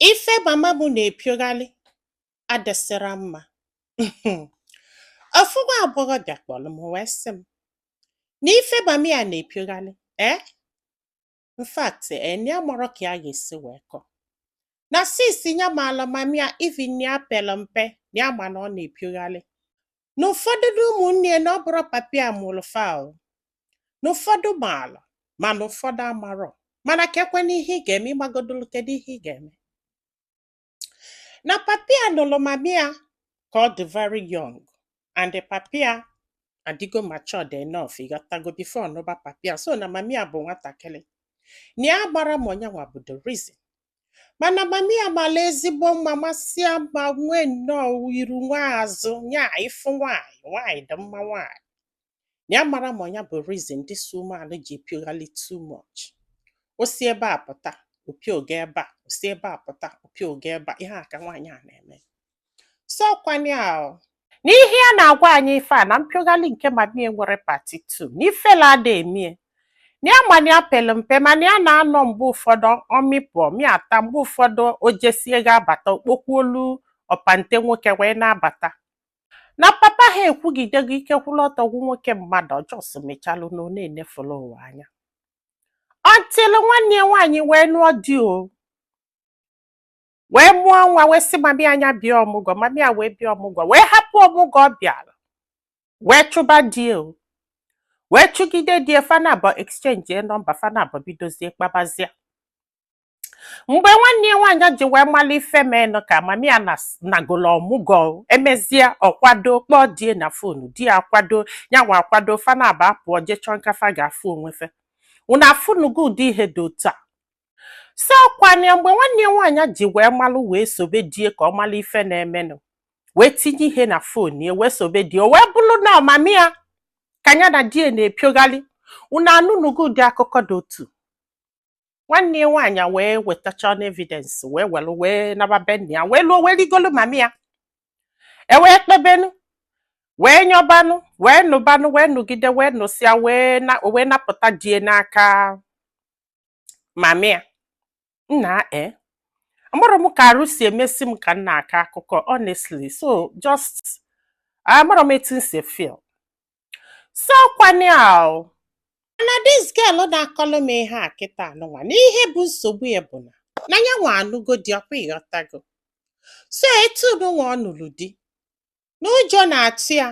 Ife mama m na-epiogharị adịsịrọ mma. Ofu nwa agbọghọbịa kpọrọ m wee sị m na ife mama ya na-epiogharị ee in fact ee na ya amarọ ka ya ga-esi wee kọ na since ya maala mama ya even na ya pere mpe na ya ma na ọ na-epiogharị na ụfọdụ na ụmụnne ya na ọ bụrọ papa ya mụrụ fa o na ụfọdụ maara mana ụfọdụ amarọ mana kekwanụ ihe ị ga-eme ị magodolu kedu ihe ị ga-eme na papa ya nụrụ mama ya ka ọ dị very young and the papa ya adịgo matured enough ị ghọtago before nụba papa ya so na mama ya bụ nwatakịrị na ya amarọ ma ọ nyanwa bụ the reason mana mami ya mara ezigbo mma masịa mma nwee nnọọ iru nwee azụ nya ị fụ nwaanyị nwaanyị dị mma nwaanyị na ya amarọ ma ọ nya bụ reason this woman ji epioghalị too much o si ebe a pụta o pioga ebe a o si ebe a pụta o pioga ebe a ihe a ka nwaanyị a na-eme so kwanye ahụ n'ihe a na-agwa anyị ife a na mpiogharị nke mamie nwere part 2 na ifele ada emie na ya ma na ya pere mpe mana ya na-anọ mgbe ụfọdụ ọ mịpụ ọ mịata mgbe ụfọdụ o jesie ga-abata o kpokwuolu ọpante nwoke wee na-abata na papa ha ekwugidego ike kwụrụ ọtọ gwụ nwoke mmadụ ọ just mechalụ na ọ na-enefulu ụwa anya until nwanne ya nwaanyị wee nụọ di o wee mụọ nwa wee sị mami a nya bịa ọmụgwọ mami a wee bịa ọmụgwọ wee hapụ ọmụgwọ ọ bịara wee chụba die wee chụgide di fa naabọ exchange e nọmba fa naabọ bidozie kpabazie mgbe nwanne ya nwaanyị ji wee mara ife menụ ka mami a nagolo ọmụgwọ o. emezie ọ kwado kpọọ die na fonu di ya akwado nyanwa akwado fa naabọ apụọ je chọọ nga fa ga-afụ onwe fa unu afụnugo ụdị ihe dị otu a so ọkwana ya mgbe nwanne ya nwaanyị ji wee malụ wee sobe die ka ọ malụ ife na-emenụ wee tinye ihe na phone ya wee sobe die o wee bụrụ na ọ mami ya ka ya na die na-epiogharị unu anụnụgo ụdị akụkọ dị otu nwanne ya nwaanyị wee wetachanụ evidence wee were wee naba be nna ya wee luo wee rigolu mami ya e wee kpebenụ wee nyọbanụ wee nụbanụ wee nụgide wee nụsịa wee na- wee napụta die n'aka mami ya nna e eh? amarọ m ka arụ si emesi m ka m na-akọ akụkọ honestly so just amarọ m etu m si feel so kwanye ahụ na this girl na-akọlụ m ihe a kịta anụnwa na ihe bụ nsogbu ya bụ na na ya nwa anụgo di ọ kwa ị ghọtago so etu nụnwa ọ nụrụ di na ụjọ na-atụ ya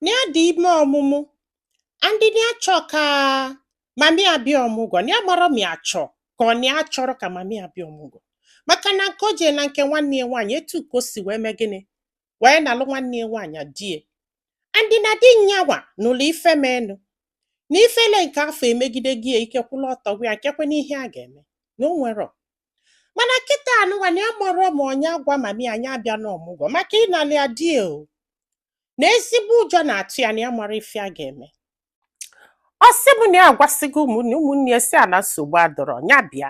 na ya dị ime ọmụmụ and na ya chọ ka mami ya bịa ọmụgwọ na ya amarọ ma ya chọ ka ọ na ya achọrọ ka mami ya bịa ọmụgwọ maka na nke o jelu na nke nwanne ya nwaanyị etu ka o si wee mee gịnị wee nalụ nwanne ya nwaanyị di ya and na di nya nwa n'ụlọ ife menụ na ifele nke afụ emegidego ya ike kwụlụ ọtọ gwa ya kekwanụ ihe a ga-eme na o nwerọ mana kịta anụnwa na ya amarọ ma ọ nya agwa mami ya nya abịana ọmụgwọ maka ịnalị ya di ya o na ezigbo ụjọ na-atụ ya na ya amarọ ife a ga-eme ọ sị m na ya agwasịgo ụmụnne ụmụnne ya sị ya na nsogbu adọrọ ya bịa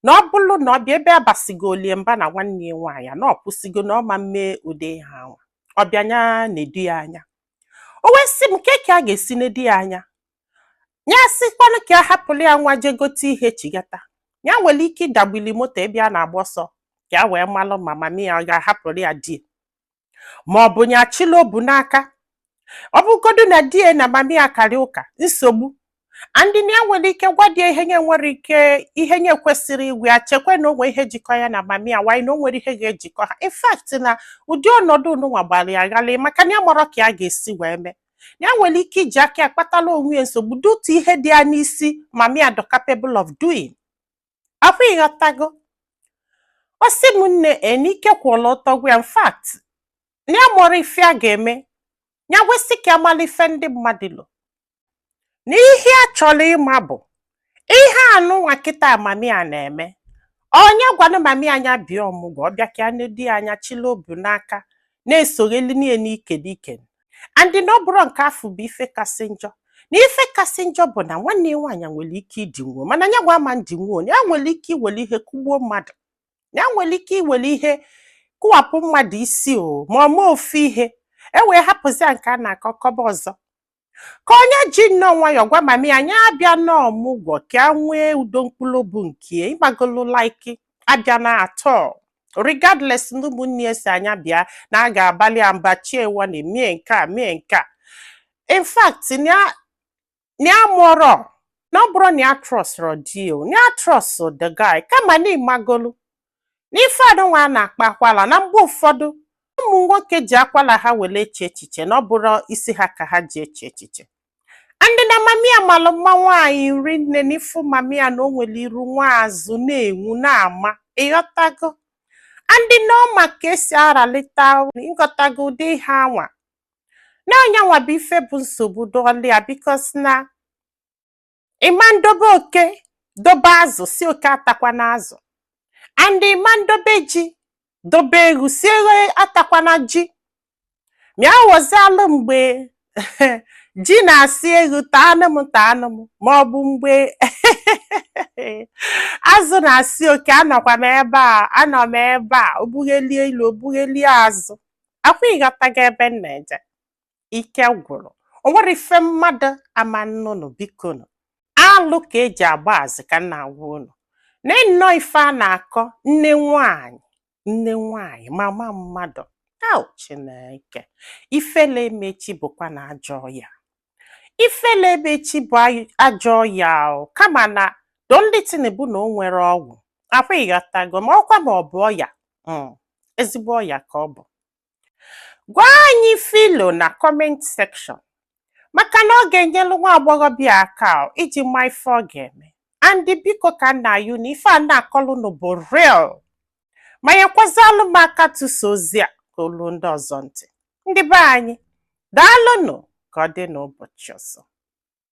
na ọ bụrụ na ọ bịa ebe a basigolu ya mba na nwanne ya nwaanyị na ọ kwụsịgo na ọ ma mme ụdị ihe anwa ọ bịa nya na-edu ya anya o wee sị m kee ka a ga-esi na-edu ya anya ya sịkwanụ ka ya hapụrụ ya nwa je gote ihe chigata ya nwere ike ịdagbili moto ebe ya na-agba ọsọ ka ya wee malụ ma mami ya ọ ga-ahapụrụ ya di ya ma ọ bụ ya achịla obu n'aka ọ bụgodu na di ya na mami ya karịa ụka nsogbu and na ya nwere ike gwa di ya ihe nya nwere ike ihe nya kwesịrị ịgwa ya chekwa na o nwee ihe jikọ ya na mami ya while na o nwerọ ihe ga-ejikọ ha in fact na ụdị ọnọdụ anụnwa gbara ya ghalịị maka na ya amarọ ka ya ga-esi wee mee ya nwere ike iji aka ya kpatara onwe ya nsogbu due to ihe dị ya n'isi mami ya dọ capable of doing ọkwa ịghọtago ọ sị m nne enike kwụlụ ọtọ gwa ya in fact na ya amarọ ife a ga-eme ya wee sị ka ya mara ife ndị mmadụ lo na ihe ya chọrọ ịma bụ ihe anụnwa kịta mami ya na-eme ọ nya gwanụ mami ya nya bịa ọmụgwọ ọ bịa ka ya na-edu ya anya chịla obu n'aka na-esogheli nya n'ike n'ike and na ọ bụrọ nke afụ bụ ife kasị njọ na ife kasị njọ bụ na nwanne ya nwaanyị nwere ike idinwu o mana nya nwa ama ndinwu o ya nwere ike iwere ihe kụgbuo mmadụ ya nwere ike iwere ihe kụwapụ mmadụ isi o ma ọ mee ofu ihe e wee hapụzịa nke a na-akọ kọba ọzọ ka ọ nya ji nnọọ nwayọọ gwa mami ya nya abịana ọmụgwọ ka ya nwee udo mkpụrụ obu nke ịmagolu like abịana at all regardless na ụmụnne ya sị ya nya bịa na a ga-abalị ya mba chiewa na emie nke a mee nke a in fact na ya amarọ na ọ bụrọ na ya atrustụrọ di ya o na ya trust the guy kama na ịmagolu n'ife anụnwa a na-akpọ akwala na mgbe ụfọdụ ụmụ nwoke ji akwala ha were eche echiche na ọ bụrọ isi ha ka ha ji eche echiche and na mami ya malụ mma nwaanyị rinne na ị fụ mami ya na o nwere iru nwee azụ na-enwu na-ama ịghọtago and na ọ ma ka e si a-relate ịghọtago ụdị ihe anwa na ọ nya nwa bụ ife bụ nsogbu dọlị ya because na ị ma ndobe oke dobe azụ sị oke atakwana azụ and ị ma ndobe ji dobe eghu sị eghu atakwana ji mịa ghọzialụ mgbe ji na-asị eghu taanụ m taanụ m ma ọ bụ mgbe azụ na-asị oke anọkwa m ebe a anọ m ebe a o bughelie ilu o bughelie azụ ọkwa ị ghọtago ebe m na-eje ike gwụrụ o nwere ife mmadụ ama nnụnụ bikonụ alụ ka e ji agba azị ka m na-agwa unu na nnọọ ife a na-akọ nne nwanyị nne nwanyị mama mmadụ au chineke ifele emechi bụkwa na ajọ ọya ifele emechi bụ ay- ajọ ọya kama na the only thing bụ na o nwere ọgwụ ọkwa ị ghọtago makwa na ọ bụ ọya mm, ezigbo ọya ka ọ bụ gwa anyị ife i lo na comment section maka na ọ ga-enyelu nwa agbọghọbịa aka ọ, iji ma ife ọ ga-eme and biko ka m na-ayọ na ife a na-akọlụ nụ bụ real ma nyekwazịalụ m aka tụsa ozi a ka o lu ndị ọzọ ntị ndị be anyị daalụnụ ka ọ dị n'ụbọchị ọzọ